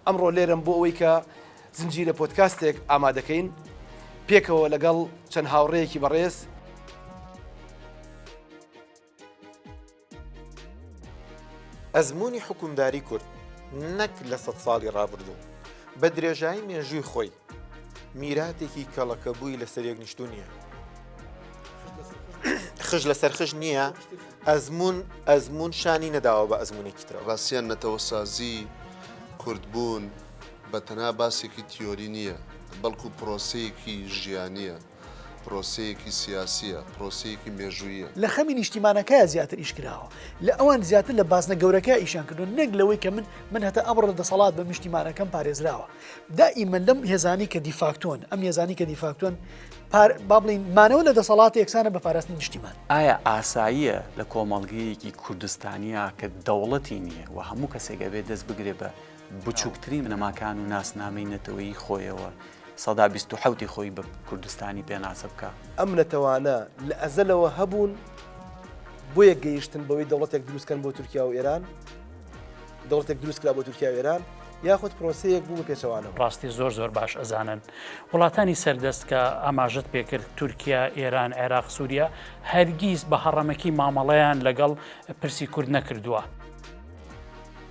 ئەمڕۆ لێرەم بۆ ئەوەی کە زنجیرە پۆدکاستێک ئامادەکەین پێکەوە لەگەڵ چەند هاوڕێیەکی بەڕێز. ئەزموونی حکومداری کورد نەک لە سەد ساڵی ڕابردوو، بە درێژایی مێژووی خۆی، میراتێکی کەڵەکەبووی لەسەر یەک نیشتو نییە خش لەسەر خش نییە ئەزمون ئەزمون شانی نەداوە بە ئەزمونێکی ترەوە ڕاستیان نەتەوەسازی کوردبوون بە تەنها باسێکی تیۆری نییە بەڵکو پرۆسەیەکی ژیانە پرۆسەیەکی سیاسییە، پرۆسەیەکی مێژووییە. لە خەمی نیشتیمانەکەیا زیاتر ئیش کراوە، لە ئەوان زیاتر لە بازنە گەورەکەیا ئیشیان کردووە، نەک لەوەی کە من، من هەتا ئەمڕۆ لە دەسەڵات بم، نیشتیمانەکەم پارێزراوە. دائیمەن لەم هێزانەی کە دیفاکتۆن، ئەم هێزانەی کە دیفاکتۆن، پار، با بڵێین، مانەوە لە دەسەڵات یەکسانە بە پاراستنی نیشتیمان. ئایا ئاساییە لە کۆمەڵگەیەکی کوردستانیا کە دەوڵەتی نییە و هەموو کەسێک ئەبێ دەست بگرێ بە. بچووکترین بنەماکان و ناسنامەی نەتەوەیی خۆیەوە، سەدا بیست و حەوتی خۆی بە کوردستانی پێناسە بکا. ئەم نەتەوانە لە ئەزەلەوە هەبوون، بۆیە گەیشتن بەوەی دەوڵەتێک دروست بکەن بۆ تورکیا و ئێران، دەوڵەتێک دروست کرا بۆ تورکیا و ئێران، یاخود پرۆسەیەک بوو بە پێچەوانەوە. ڕاستی زۆر زۆر باش ئەزانن وڵاتانی سەردەست کە ئاماژەت پێ کرد، تورکیا، ئێران، عێراق، سووریا، هەرگیز بە هەڕەمەکی مامەڵەیان لەگەڵ پرسی کورد نەکردووە.